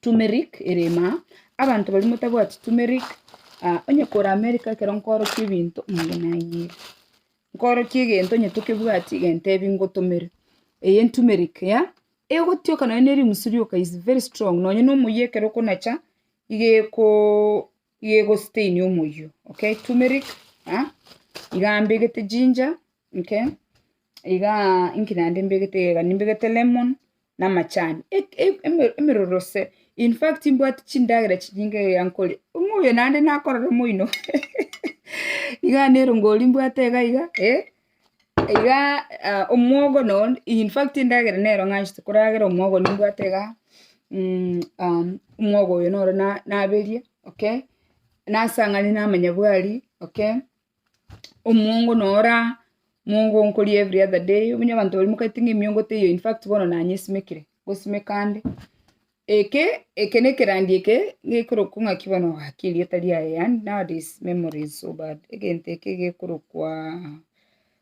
turmeric ere emaa, abanto baria motabwati turmeric, ah, onye kore America ekero nkoorokia ebinto, nigo nanyieria. Nkoorokia egento onye tokebwati gentebi ngotomere eye turmeric ya, egotioka nonya ne erimusu rioka is very strong, nonya na omoyia ekero okonacha, iga ekoo. Eyio egositainia omoyio, okay, tumeric, ah, iga mbegete ginger, okay, iga inki naende mbegete iga nimbegete lemon, na amachani, e- e- eme- emeruruse, in fact mbwati chindagera chinyinge iga nkoria, buna oyo naende nakorora moino, iga nero ngoria mbwate iga iga eh. Igaa omwogo no infact endagera nero ng'anchete koragera omwogo nimbwate igaa omwogo oyo noro na naberie, okay, nasang'anie namanya bwari, okay, omwongo no ora mwongo nkoria every other day, omenye abanto baria mokaete ng'a emiongo teiyo infact bono nanyesimekire, ngosimeka ande. Eke, eke nekerandia eke gekorokwa ng'aki bono ogaki erieta riaye and nowadays memory is so bad egento eke gekorokwa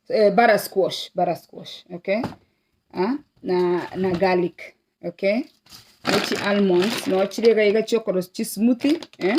eh, bara squash bara squash okay ah, na na garlic okay ne chi almonds no chire iga iga chiokorosia chismuthi eh?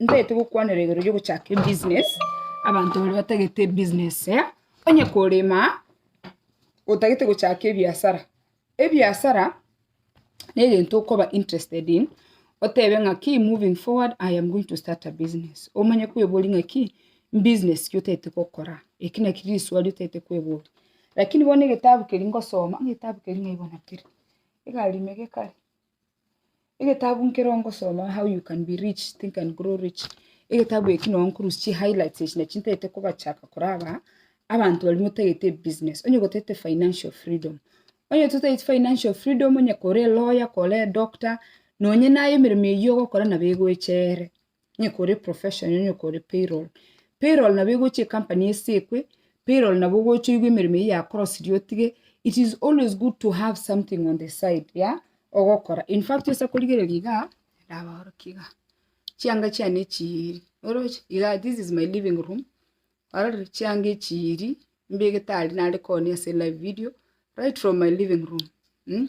ntagete gokwanera igoro riogochaka ebusiness, abanto baria batagete ebusiness eye, onye korema, otagete gochaka ebiasara, ebiasara negento okoba interested in, otebe ng'aki moving forward I am going to start a business, omanye kweboria ng'aki business ki otagete gokora, eki naki risuali otagete kweboria. Lakini bono egetabu keria ngosoma, ng'o egetabu keria ng'aibo nakere, egari ime gekare. Egetabu nkere ongosoma how you can be rich, think and grow rich, egetabu eki noo nkorusia chi highlights echi nachio ntagete kobachaka kore aba, abanto baria motagete ebibusiness, onye gotagete financial freedom, onye totageti financial freedom, onye kore elawyer, kore edoctor, nonye naye emeremo eyio ogokora nabo egocha ere. onye kore professional, onye kore payroll. Payroll nabo egocha ecompany esekwe, payroll nabo ogocha oigwe emeremo eyio yakorosirie otige, it is always good to have something on the side ya ogokora. In fact tosa korigereria igaa, ndabaorokie igaa, chianga chiane echiiri, oroche? igaa this is my living room, orore? chianga echiiri, mbegete aria nare koonia ase live video, right from my living room.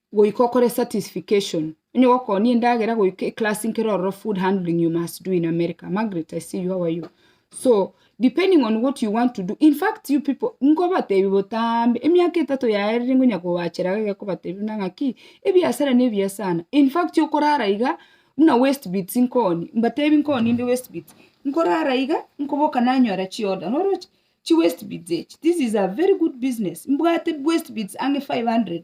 Goika okore certification, onye gokonia endagera goika eclass nkere ororo food handling you must do in America, Margaret I see you, how are you? So depending on what you want to do, in fact you people nkobatebi botambe emiaka etato yaye riri ngonya kobachera iga gekobatebi buna ng'aki ebiasara nebi ya sana, in fact okorara iga buna westbits nkooni, mbatebi nkooni inde westbits, nkorara iga nkoboka nanyora chi order, noroche? chi westbits echi, this is a very good business, mbwate westbits ang'e 500.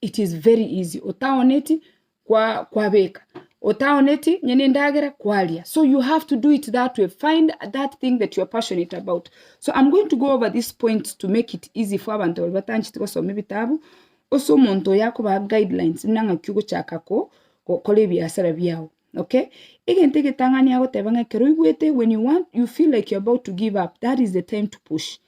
it is very easy otaoneti kwa kwabeka otaoneti onye ne endagera kwaria so you have to do it that way find that thing that you are passionate about so I'm going to go over this point to make it easy for abanto baria batancheti gosoma ebitabu ase omonto oyo akobaha guidelines buna ng'aki ogochaka ko gokora ebiasara biao okay egento egetang'ani agoteba ng'a ekero oigwete when you want you feel like you are about to give up that is the time to push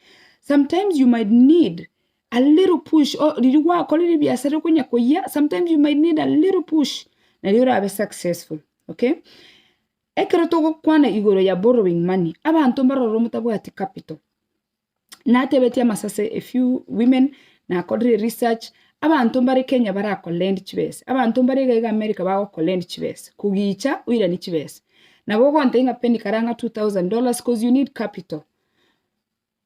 sometimes you might need A little push, oh, riria gwakora ebiasara riria okonya koyia, sometimes you might need a little push, nario orabe successful, okay? Ekero togokwana igoro ya borrowing money, abanto mbaroro motabwati capital, natebetie amasase a few women, nakorire research, abanto mbare Kenya mbare ko lend chibesa, abanto mbare iga iga America bago ko lend chibesa, kogicha oiranie chibesa, nabo ogontebia ng'a penny kara ng'a two thousand dollars coz you need capital.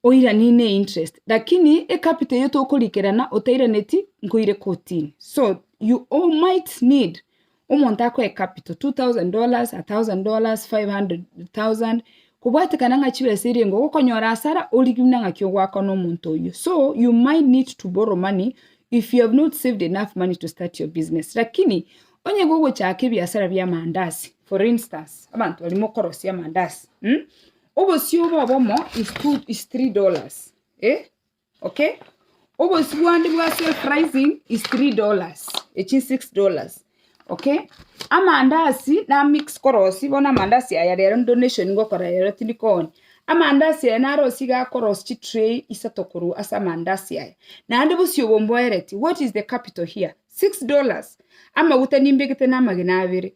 Oirani ne interest lakini e capital eyio tokorikerana otairaneti nkoire kotini so you all might need omonto akoe e capital 2000 dollars, 1000 dollars, 500 thousand kobwatekana ng'a chibesa eria engo ogokonyora asara origie buna ng'aki ogoakwa na omonto oyio so you might need to borrow money if you have not saved enough money to start your business lakini onye iga ogochaka ebiasara bia amandazi for instance abanto baria mokorosia amandazi. Obosio obo obomo is two is three dollars eh okay obosio bwande bwa self rising is three dollars echi six dollars okay amandasi na mix korosi bono amandasi aya rero donation ngokora rero tindi kooni amandasi aya narosie iga akorosie chi tray isato korwa ase amandasi aya naende bosio obo mboereti what is the capital here six dollars amaguta nimbegete na amagena abere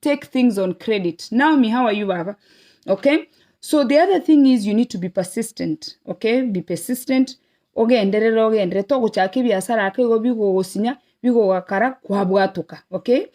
take things on credit naomi how are you baba okay so the other thing is you need to be persistent okay be persistent ogenderere ogenderere togochaka ebiasara ake igo bigogosinya bigogakara kwabwatoka okay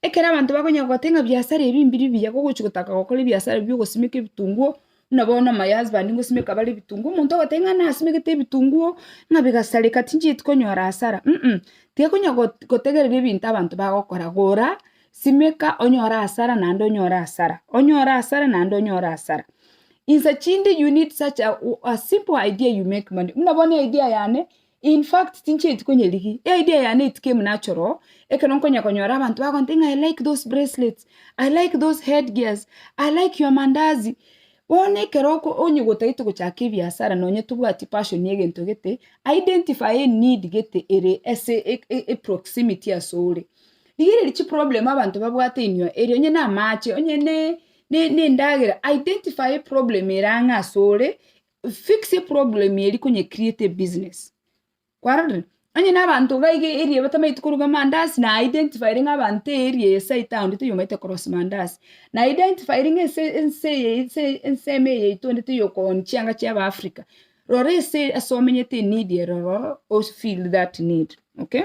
ekero abanto bakonya gogotebi ng'a biasara ebi mbiri mbiya gogochi gotaka gokora ebiasara biogosimeka ebitunguo. buna bono amayasband ngosimeka bare ebitunguo omonto ogoteba ng'a nasimegete ebitunguo ng'a bigasareka tinchieti konyora asara um tigekonya gotegereri ebinto abanto bagokora gora simeka onyore asara naende onyore asara onyore asara naende onyore asara insa chinde you need such a simple idea you make money buna bono idea yane In fact, tinchieti konyerigi. Idea yane eti kemu natural, ekero nkonya konyora abanto bagontebia ng'a I like those bracelets, I like those head gears, I like your mandazi. Bono ekero oko- onye gotaete gochaka ebiasara nonye tobwati passion ya egento gete, identify a need gete ere ase e- e- e proximity asore. Rigereria chiproblem abanto babwate inwe, eri onye namache, onye ne- ne- nendagera, identify a problem ere ang'e asore, fix a problem eria konye create a business, kwarorire? Onye na abanto iga iga area batamaeti koruga amandazi na identifyre ng'a abanto area eye site eye onde toyomaete korosia mandazi, na identifyre ng'a ense ense eye ense eye ensemo eye yaito onde toyokoonia chianga chia aba Africa, rora ase ase omenyete enidi ero ororo ofill that need, okay.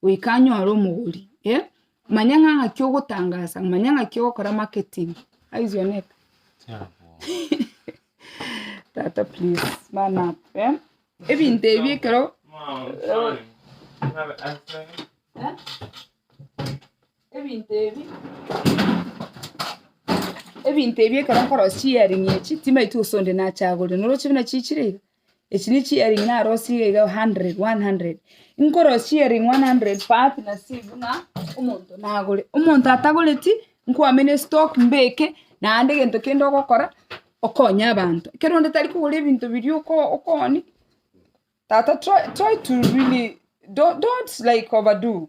goika anyore omogori, eh, manya ng'a ng'aki ogotangasa, manya ng'aki ogokora marketing, aise one eka tata please man up eh, ebinto ebi ekero eh, ebinto ebi ebinto ebi ekero nkorosia earring echi, timaeti gose onde nachagorire, noroche buna chichire iga. Echi ne chiering' narosie iga iga hundred, one hundred. Nkorosia chiering' one hundred part na si buna omonto nagore. Omonto atagoreti, nkwamena estock mbeke, naende egento kende ogokora, okonye abanto. Ekero onde tari kogora ebinto biria oko- okoonia, tata try try to really don't don't like over do.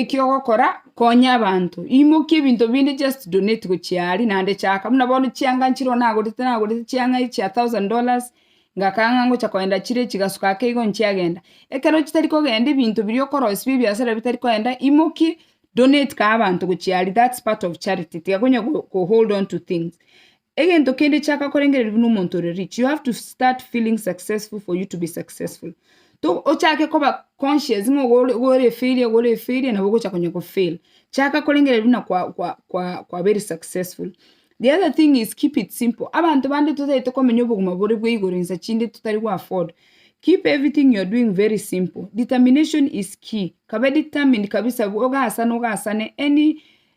Ekiogokora, konya abanto, imokia ebinto binde just donate gochia aria, naende chaka buna bono chianga nchire oo nagorete nagorete chianga chia thousand dollars, ngakanga ng'a ngocha koenda chire chigasuka ake igo nchiagenda. Ekero chitari kogenda ebinto biria okorosia bia ebiasara bia bitari kogenda, imokie donate kaa abanto gochia aria, that's part of charity, tiga konya ko hold on to things. Egento kende chaka korengererigwa nomonto ore rich, you have to start feeling successful for you to be successful. To ochake koba conscious ng'a ogo ore- ogo ore efailure, ogo ore efailure, nabo ogocha konya kofail. Chaka korengererigwa buna kwa- kwa- kwa- kwa very successful. The other thing is keep it simple, abanto bande totagete komenya obogima bore bwa igoro insa chinde totari go afford, keep everything you are doing very simple, determination is key, kabe determined kabisa, ogasane ogasane any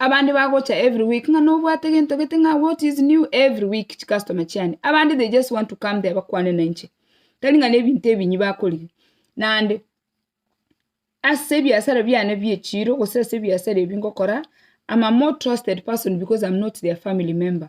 Abande bagocha every week ng'a nobwate gento gete ng'a what is new every week chi customer chiane. Abande they just want to come there bakwane na inche. Tari ng'a nebinto ebinyi bakorigia. Naende, ase ebiasara biane bie echiro gose ase ebiasara ebi ngokora, am a more trusted person because am not their family member.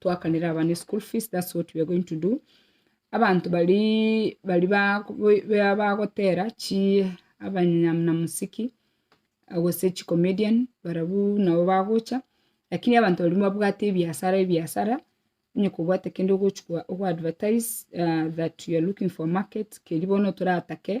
twakanere abana eschool fees that's what we are going to do, abanto baria baria bago bagotera chi abanyamuna muziki gose chi comedian barabwo nabo bagocha, lakini abanto baria babwate ebiasara ebiasara, onye kobwate kende ogochia ko advertise that you are looking for market, keria bono toratake